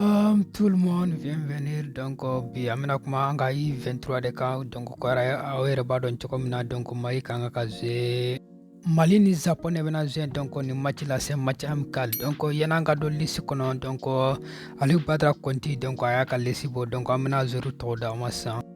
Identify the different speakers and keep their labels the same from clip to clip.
Speaker 1: Um, tout le monde bienvenue donc euh, bi an bɛna kuma an ka U23 de kan donc ko yɛrɛ aw yɛrɛ b'a dɔn cogo min na donc mali ka kan ka jouer mali ni japon de bɛna jouer donc ni match la c'est match amical donc yanni an ka don lisi kɔnɔ donc alou badara kɔnti donc a y'a ka lisi bɔ donc an bɛna joueurw tɔgɔ d'aw ma sisan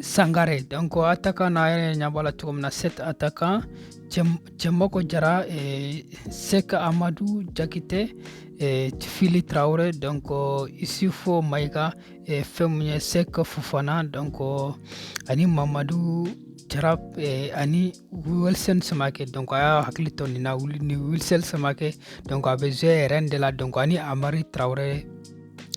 Speaker 1: sangare donc attaquant na a yɛrɛ ɲɛ b'a la cogo min na sept attaquants cɛmɔkɔ jara eh, sɛki amadu jakite eh, fili tarawele donc isufu mayiga eh, fɛn mun ye sɛki fofana donc ani mamadu jara eh, ani Wilson Samake donc a y'a hakili to nin na ni Wilson Samake donc a bɛ jouer Rennes de la donc ani Hamari Traore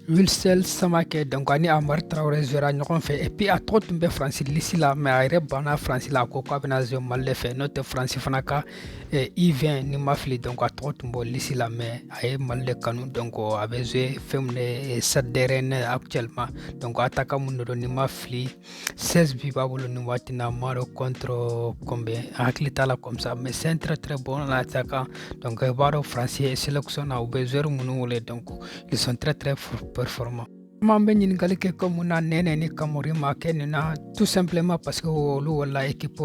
Speaker 1: Wilson Samake donc ani Hamari Traore jouera ɲɔgɔn fɛ et puis a tɔgɔ tun bɛ France lisi la mais a yɛrɛ banna France la a ko k'a bɛna jouer Mali de fɛ n'o tɛ France fana ka eh, U20 ni n ma fili donc a tɔgɔ tun b'o lisi la mais a ye Mali de kanu donc a bɛ jouer fɛn min na eh, Stade de Rennes actuellement donc attaquant mun de don ni n ma fili 16 bi b'a bolo nin waati na mais rencontre combien n hakili t'a la comme ça mais c'est un très très bon attaquant donc i b'a dɔn faransi sélection na u bɛ joueur minnu wele donc ils sont très très performants M'an bɛ ɲininkali kɛ ko mun na Nɛnɛ ni Kamori ma kɛ nin na tout simplement parce que olu wala équipe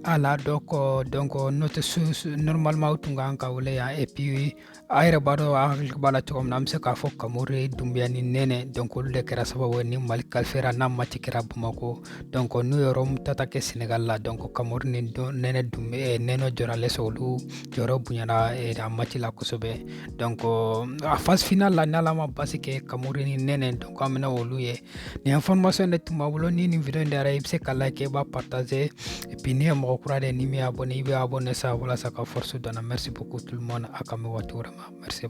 Speaker 1: A la donc donc n'o tɛ normalement u tun ka kan ka wele yan et puis a yɛrɛ b'a dɔn a hakili b'a la cogo min na an bɛ se k'a fɔ kamori dunbiya ni nɛnɛ dɔnk olu de kɛra sababu ye ni mali kalifiyera n'a mati kɛra bamakɔ dɔnk n'u ye remontada kɛ senegal la dɔnk kamori ni nɛnɛ dunbe eh, nɛnɛ dorgeles olu jɔyɔrɔ bonyana eh, a mati la kosɛbɛ dɔnk a fasi final la n'ala ma basi kɛ kamori ni nɛnɛ dɔnk an bɛna olu ye Nin information de tun b'an bolo ni nin video in diyara i bɛ se k'a like i b'a partager et puis n'i ye mɔgɔ kura de ye n'i m'i abonné i bɛ abonné sa walasa ka force don an na merci beaucoup tout le monde an ka bɛn waati wɛrɛ ma merci.